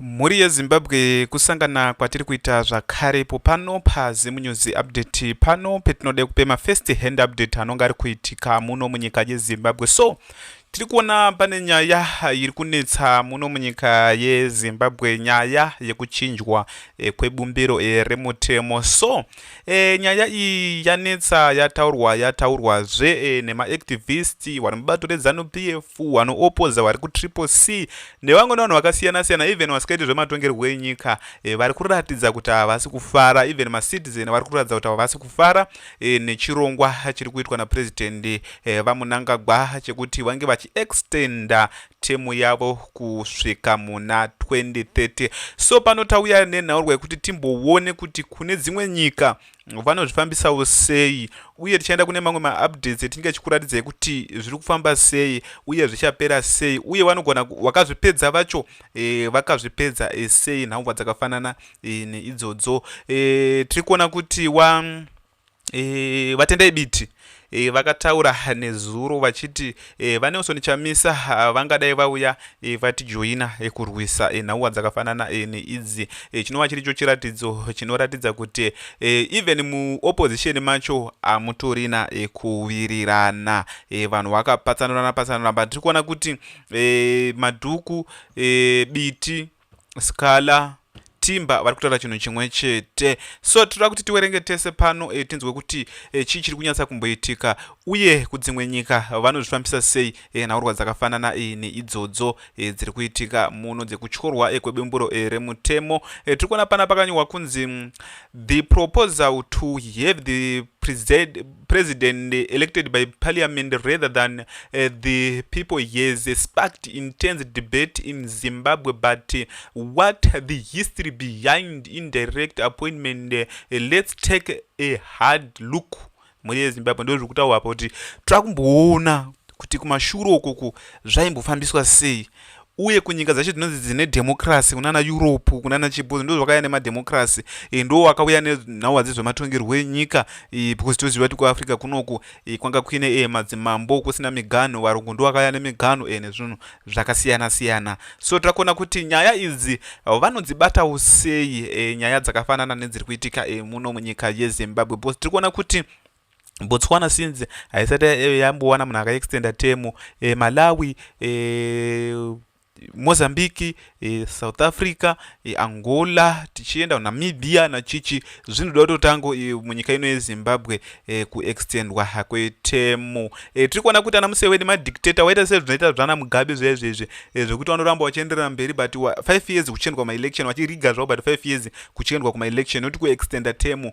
Mhuri yeZimbabwe kusangana kwatiri kuita zvakare ipo pano paZimunews update pano petinoda kupe mafirst hand update anonga ari kuitika muno munyika yeZimbabwe so tiri kuona pane nyaya iri kunetsa muno munyika yeZimbabwe nyaya yekuchinjwa eh, kwebumbiro eh, remutemo so e, nyaya iyi yanetsa yataurwa yataurwa zve e, nemaactivist vari mubato redzanu pf vanoopoza vari kutriple c nevamwe nevanhu vakasiyana siyana even vasikaiti zvematongerwo enyika e, vari kuratidza kuti havasi kufara even macitizen vari kuratidza kuti havasi kufara e, nechirongwa chiri kuitwa naprezidendi e, vamunangagwa chekuti vange vachiextenda temu yavo kusvika muna 2030 so pano tauya nenhaurwa yekuti timbowone kuti kune dzimwe nyika vanozvifambisawo sei uye tichaenda kune mamwe maupdates etinenge tichikuratidzai kuti zviri kufamba sei uye zvichapera sei uye vanogona vakazvipedza vacho e, vakazvipedza e, sei nhaurwa dzakafanana e, neidzodzo e, tiri kuona kuti wa E, vatendai biti e, vakataura nezuro vachiti e, vanelson chamisa ah, vangadai vauya e, vatijoina e, kurwisa e, nhauwa dzakafanana e, neidzi e, chinova chiricho chiratidzo chinoratidza kuti e, even muopposition macho hamutorina e, kuwirirana e, vanhu vakapatsanurana patsanurana but tiri kuona kuti e, madhuku e, biti scala timba vari kutaura chinhu chimwe chete so tinoda kuti tiwerenge tese pano e, tinzwe kuti e, chii chiri kunyatsa kumboitika uye kudzimwe nyika vanozvifambisa sei e, nhaurwa dzakafanana e, neidzodzo e, dziri kuitika muno dzekutyorwa e, kwebumburo e, remutemo e, tiri kuona pana pakanyorwa kunzi mm, the proposal to have the president president elected by parliament rather than uh, the people has sparked intense debate in zimbabwe but uh, what the history behind indirect appointment uh, let's take a hard look mhuri yezimbabwe ndo zviri kutaurwa pa kuti tava kumboona kuti kumashuro ukuku zvaimbofambiswa sei uye kunyika dzacho dzinonzi dzine dhemokirasi kunana europe kunana chibhozi ndo zvakauya nemadhemokirasi e, ndo wakauya nenhauwa dzezvematongerwo enyika e, because toziva kuti kuafrica kunoku e, kwanga kuine e, madzimambo kusina miganho varungu ndo vakauya nemiganho e, nezvinhu zvakasiyana siyana so takuona kuti nyaya idzi vanodzibatawo sei e, nyaya dzakafanana nedziri kuitika e, muno munyika yezimbabwe because tiri kuona kuti Botswana since haisati eh, yambowana munhu akaextenda temu eh, Malawi eh, Mozambique eh, South Africa eh, Angola tichienda Namibia nachichi zvinoda kutotango eh, munyika ino yeZimbabwe eh, kuextendwa kwetemu eh, tiri kuona kuti ana Museveni madictator waita se zvinoita zvana Mugabe zviya izvezvi eh, zvekuti vanoramba vachienderera mberi but 5 years kuchiendwa maelection vachiriga zvavo but 5 years kuchiendwa kumaelection noti kuextenda temu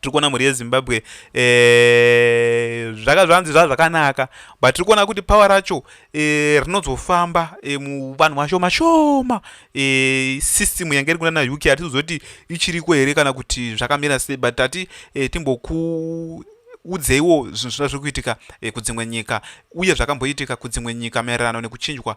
tiri kuona mhuri yezimbabwe eh, zvaka zvanzi zvaa zvakanaka but tiri kuona kuti power racho eh, rinozofamba eh, muvanhu vashoma shoma system yange iri kunana uk hatizozoti ichiriko here kana kuti zvakamira sei but tati timboku udzeiwo zvinhu zvina zviri kuitika eh, kudzimwe nyika uye zvakamboitika kudzimwe nyika maererano nekuchinjwa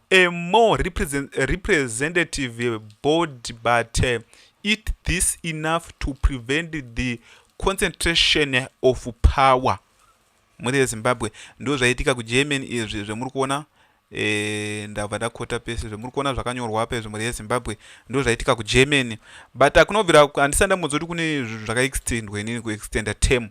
a more represent, representative board but uh, it this enough to prevent the concentration of power mhuri yezimbabwe ndo zvaitika kugerman izvi zvemuri kuona e, ndabva ndakota pese zvemuri kuona zvakanyorwa apa izvi mhuri yezimbabwe ndo zvaitika kugerman but akunobvira handisa ndamudza kuti kune zvinhu zvakaextendwa inini kuextenda term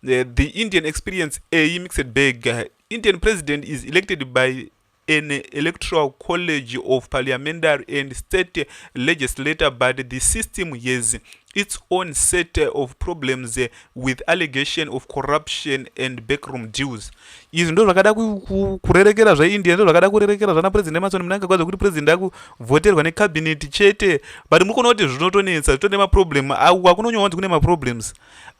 uh, the indian experience a mixed bag uh, indian president is elected by an electoral college of parliamentary and state legislator but the system has its own set of problems with allegation of corruption and backroom deals izvi ndo zvakada kurerekera zveindia ndo zvakada kurerekera zvana president emarson munanga kwazi kuti president akuvhoterwa necabinet chete but muri kuona kuti zvinotonetsa zvitone maproblem akunonyowanzi kune maproblems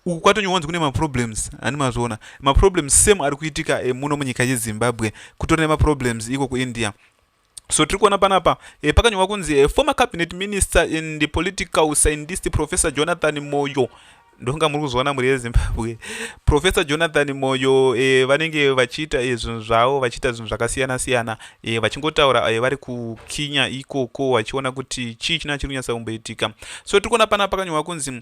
uku kwatonyowanzi kune maproblems ani mazviona maproblems same ari kuitika eh, muno munyika yezimbabwe kutori nemaproblems iko kuindia so tiri kuona panapa e, pakanyorwa kunzi e, former cabinet minister and the political scientist professor jonathan moyo ndonga muri kuzviona mhuri yezimbabwe professor jonathan moyo e, vanenge vachiita e, zvinhu zvavo vachiita zvinhu zvakasiyana siyana e, vachingotaura e, vari kukinya ikoko vachiona kuti chii china chiri kunyatsa kumboitika so tiri kuona panapa pakanyorwa kunzi e,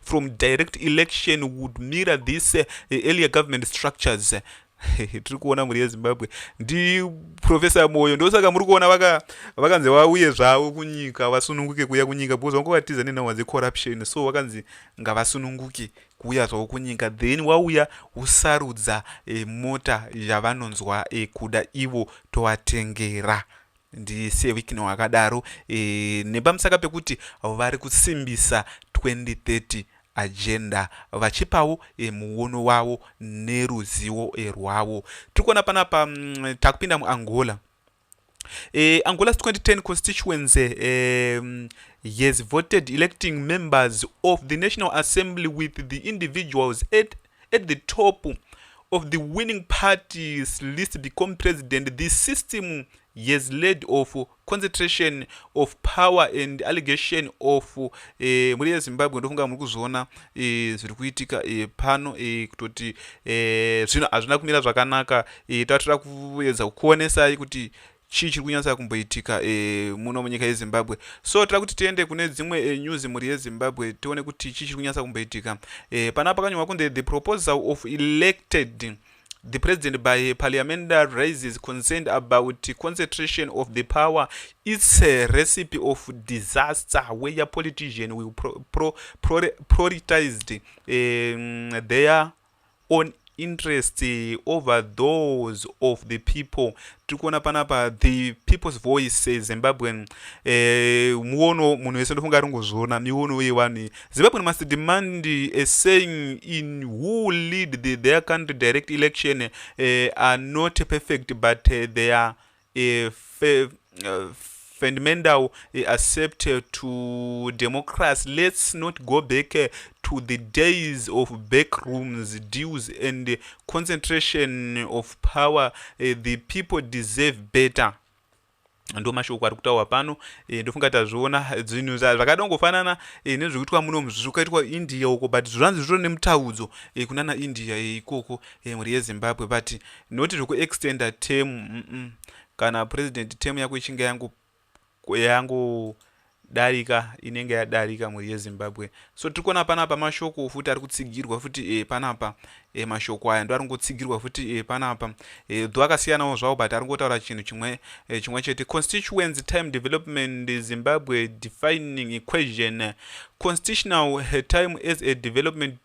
from direct election would mirror this uh, earlier government structures tiri kuona mhuri yezimbabwe ndi profesa moyo ndosaka muri kuona vakanzi vaka vauye zvavo kunyika vasununguke kuuya kunyika because vange vatiza nenhauwa dzecorruption so vakanzi ngavasununguke kuuya zvavo kunyika then wauya usarudza e, mota yavanonzwa e, kuda ivo tovatengera ndise wikno akadaro e, nepamusaka pekuti vari kusimbisa 2030 agenda vachipawo e, muono wavo neruzivo e, rwavo tiri kuona panapa mm, takupinda muangola e, angola's 2010 constituency e, mm, yes voted electing members of the national assembly with the individuals at at the top of the winning parties list become president the system has led of concentration of power and allegation of eh, mhuri yezimbabwe ndofunga muri kuzviona eh, zviri kuitika eh, pano eh, kutoti eh, zvino hazvina kumira zvakanaka eh, tatira kuedza kukuonesai kuti Chii chiri kunyatsa kumboitika e, muno munyika yezimbabwe so tira kuti tiende kune dzimwe e, news mhuri yezimbabwe tione kuti chii chiri kunyatsa kumboitika e, pana pakanyorwa kunze the proposal of elected the president by parliamenta raises concerned about concentration of the power its a recipe of disaster where your politician will pro, pro, pro, prioritized um, their on interest over those of the people tiri kuona panapa the people's voice zimbabwean eh, muono munhu wese ndofunga aringozviona miwono yevanhu zimbabwean must demand a saying in who lead the, their country direct election eh, are not perfect but eh, they are eh, fe, uh, fundamental eh, accept eh, to democracy let's not go back eh, to the days of backrooms deals and concentration of power the people deserve better ndo mashoko ari kutaurwa pano e, ndofunga tazviona dzinhu zvakada kungofanana e, nezviri kuitwa muno zviri kuitwa india uko but zvanzi zvitoro nemutaudzo e, kunana india e, ikoko e, mhuri yezimbabwe but not zvekuextender term mm -mm. kana president term yako ichinge yangu yangu darika inenge yadarika mhuri yezimbabwe so tiri kuona panapa mashoko futi ari kutsigirwa futi e, panapa e, mashoko aya ndo ari kungotsigirwa futi e, panapa e, dho akasiyanawo zvawo but ari kungotaura chinhu chimwe e, chimwe chete constituents time development zimbabwe defining equation constitutional time as a development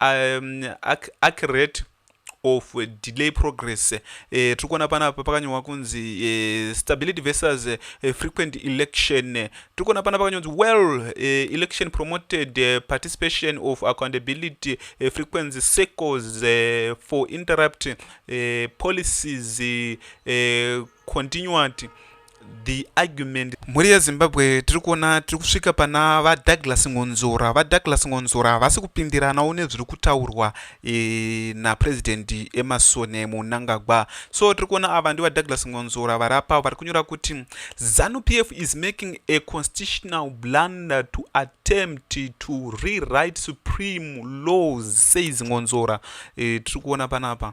um, ac accurate of delay progress eh, tiri kuona panapa pakanyorwa kunzi eh, stability versus eh, frequent election tiri kuona panapa pakanyorwa kunzi well eh, election promoted eh, participation of accountability eh, frequency circles eh, for interrupt eh, policies eh, continued the argument mhuri yezimbabwe tiri kuona tiri kusvika pana vadouglas ngonzora vadouglas ngonzora havasi kupindiranawo nezviri kutaurwa e, napresident emasone munangagwa so tiri kuona ava ndivadouglas ngonzora vari apa vari kunyora kuti zanu p f is making a constitutional blunder to attempt to rewrite supreme laws says ngonzora e, tiri kuona panapa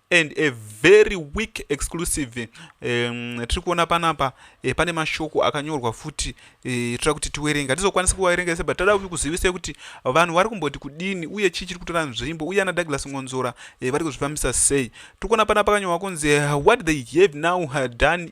and a very weak exclusive um, tiri kuona panapa eh, pane mashoko akanyorwa futi eh, toda kuti tiwerenga tizokwanisa kuvaverenga ese but toda kuzivisa kuti vanhu vari kumboti kudini uye chii chiri kutora nzvimbo uye ana douglas ngonzora eh, vari kuzvifambisa sei tiri kuona panapa kanyorwa kunzi eh, what they have now done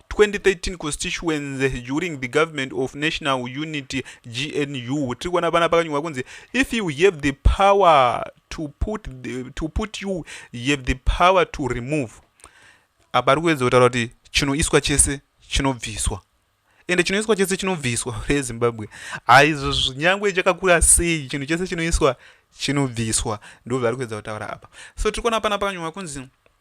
2013 constituency during the government of national unity gnu tiri kuona pana pakanyorwa kunzi if you have the power to put, the, to put you have the power to remove apa ari kuedza kutaura kuti chinoiswa chese chinobviswa ende chinoiswa chese chinobviswa rezimbabwe aizvo zvinyangwe chakakura sei chinhu chese chinoiswa chinobviswa ndozvaari kuedza kutaura apa so tiri kuona pana pakanyorwa kunzi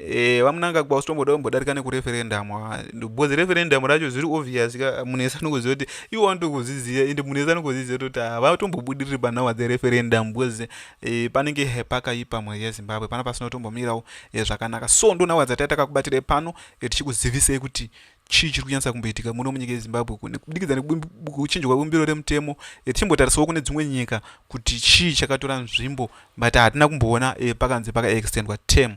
Eh, vamunangagwa usitomboda kumbodarika nekureferendum because referendum racho zviri obvious ka munhu ese anokuziva kuti ivo vanoto kuzviziva ende munhu ese anokuziziva toti havatombobudiriri panhawa dzereferendum because eh, panenge pakaipa mhuri yezimbabwe pana pasinotombomirawo eh, zvakanaka so ndo nhawa dzataitakakubatirai pano eh, tichikuzivisei kuti chii chiri kunyatsa kumboitika muno munyika yezimbabwe kubudikidza nekuchinjwa bumbiro remutemo eh, tichimbotarisawo kune dzimwe nyika kuti chii chakatora nzvimbo but hatina kumboona eh, pakanzi pakaextendwa term